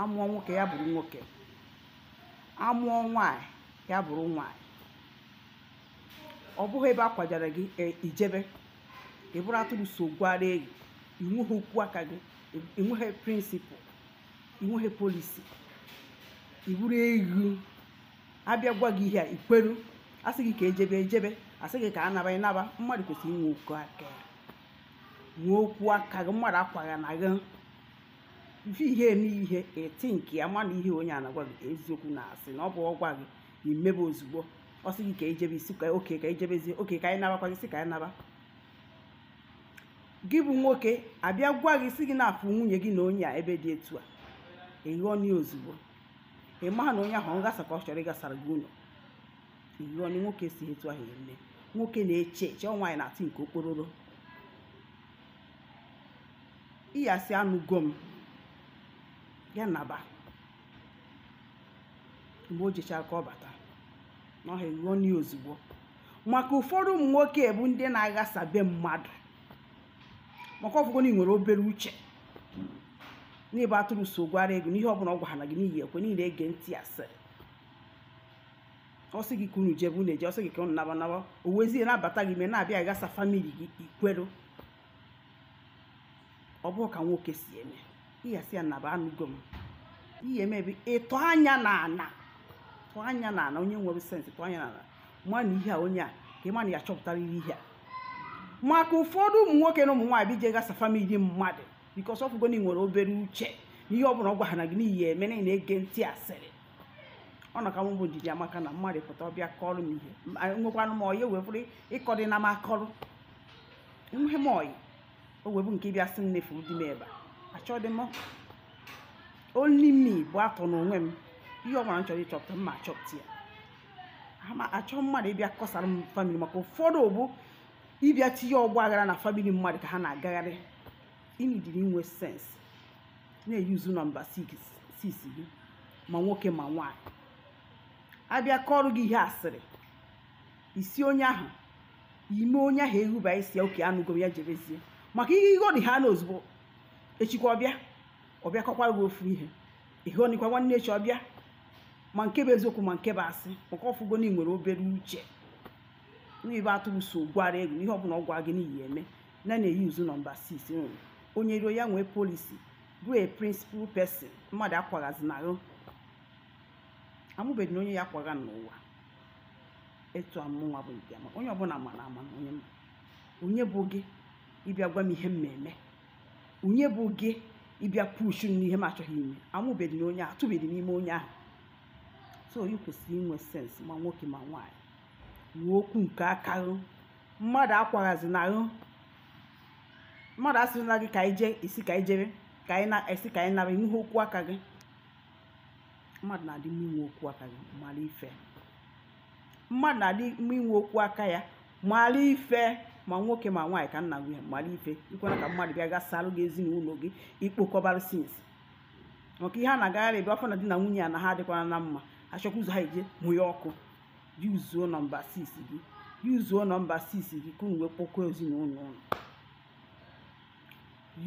amụọ nwoke ya bụrụ nwoke amụọ nwanyị ya bụrụ nwanyị ọ bụghị ebe a kwajara gị e, ijebe ị bụrụ atụrụ so gwara eyi inweghị okwu aka gị inweghị principle inweghị policy ị bụrụ eghu abịa gwa gị ihe a ikweru asị gị ka ejebe ijebe asị gị ka a naba ịnaba mmadụ kwesịrị inwe okwu aka ya nwee okwu aka gị mmadụ akwaghana gị ị fụ ihe eme ihe eti nke ya mana ihe onye a na-agwa gị eziokwu na asị na ọ bụ ọ gwa gị imebe ozugbo ọ sị gị ka ejebe ị sị okay ka ejebezie okay ka anyị nabakwa gị si ka anyị naba gị bụ nwoke abịa gwa gị si gị na afụ nwunye gị na onye a ebe dị etu a ịghọni ozugbo ị maha na onye ahụ ọ ịghasa ka ọ chọrọ ịghasara gị ụlọ ịghọni nwoke esighi etu ahụ eme nwoke na-eche eche ọ nwaanyị na-atụ nke okpororo ị ya-asị anụgo m ya naba mgbe o jechara ka ọ bata na ọha ịghọni ozugbo maka ụfọdụ ụmụ nwoke bụ ndị na-aghasa be mmadụ maka ọfụgo na ị nwere obere uche na ị bụ atụrụ so gwara eghu na ihe ọbụla ọ gwara gị na ị ya-ekwe na ị na-ege ntị asịrị ọ sị gị ka unu jebe unu eje ọ sị gị ka unu naba naba o wezie na-abata gị ime na-abịa aghasa family gị ikweru ọ bụrọ ka nwoke si eme ị ga-asị ya naba anụgo m ihe eme ebe ịtụ anya na ana tụ anya na ana onye nwere sense tụ anya na ana ma na ihe a onye a ka ị ma na ya chọpụtara ihe a maka ụfọdụ ụmụ nwoke na ụmụ nwaanyị bụ ije ghasa family mmadụ because ọfụgo na ị nwere obere uche na ihe ọ bụla ọ gwara na gị na ị ya-eme na ị na-ege ntị asịrị ọ nọ ka mụ bụ Ndidiamaka na mmadụ pụta ọ bịa kọrọ m ihe Ma enwekwanụ m ọyị wee bụrụ ịkọdị na m akọrọ enweghị m ọyị o wee bụ nke ị bịa sị m na ị fụrụ di m ebe a achọdị m only me bụ atọ n'onwe m ihe ọ gwara m chọrọ ịchọpụta m ma achọpụta ya ama achọ mmadụ ịbịa kọsara m family maka ụfọdụ bụ ịbịa tinye ọgba aghara na family mmadụ ka ha na-agagharị ị needịrị inwe sense na-use number 6 gị ma nwoke ma nwaanyị abịa kọrọ gị ihe asịrị ị sị onye ahụ ime onye ahụ eruba ị sị ya okay anụgo m ya jebezie maka ịghọniha na ozugbo echikwa ọ bịa ọ bịa kọkwara gị ofu ihe ịghọnikwa nwanne echi ọ bịa ma nke bụ eziokwu ma nke bụ asị maka ọfụgo na ị nwere obere uche na ị bụ atụrụ so gwara eghu na ihe ọbụla ọ gwara gị na ị ya-eme na na-eyuzu nọmba 6 nwere onye ruo ya nwee policy bụ a principal person mmadụ akwaghazina gị amụbeghịnụ onye ya-akwagha m n'ụwa etu amụnwa bụ nke ma onye ọbụla mara ama na onye ma onye bụ gị ịbịa gwa m ihe m na-eme onye bụ gị ịbịa pushu m n'ihe m achọghị ime amụbeghịnụ onye ahụ atụbeghịnụ ime onye ahụ so ị kwesịrị inwe sense ma nwoke ma nwaanyị nwee okwu nke aka gị mmadụ akwaghazina gị mmadụ asịrịla gị ka anyị jee ị sị ka anyị jere ka anyị naa ị sị ka anyị nara nwee okwu aka gị mmadụ na-adị mma inwe okwu aka gị mara ife mmadụ na-adị mma inwe okwu aka ya mara ife ma nwoke ma nwaanyị ka nna gị mara ife ikwere ka mmadụ bịa gasalụ gị ezinụlọ gị ikpokọbara sense maka ihe a na-agagharị ebe a fụ na di na nwunye ya na ha adịkwara na mma achọkwa ụzọ ha eje mụnye ọkụ yuzuo nọmba 6 gị yuzuo nọmba 6 gị ka unu wee kpokọọ ezinụlọ unu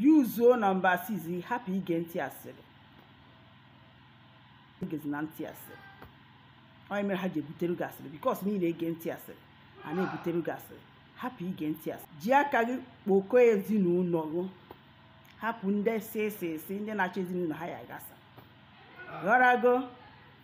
yuzuo nọmba 6 gị hapụ ige ntị asịrị egezina ntị asịrị ihe mere ha ji ebutere gị asịrị because na ị na-ege ntị asịrị a na-ebutere gị asịrị hapụ ige ntị asịrị ji aka gị kpokọọ ezinụlọ gị hapụ ndị sịsịsị ndị na-achọ ezinụlọ ha ya-agasa ghọrago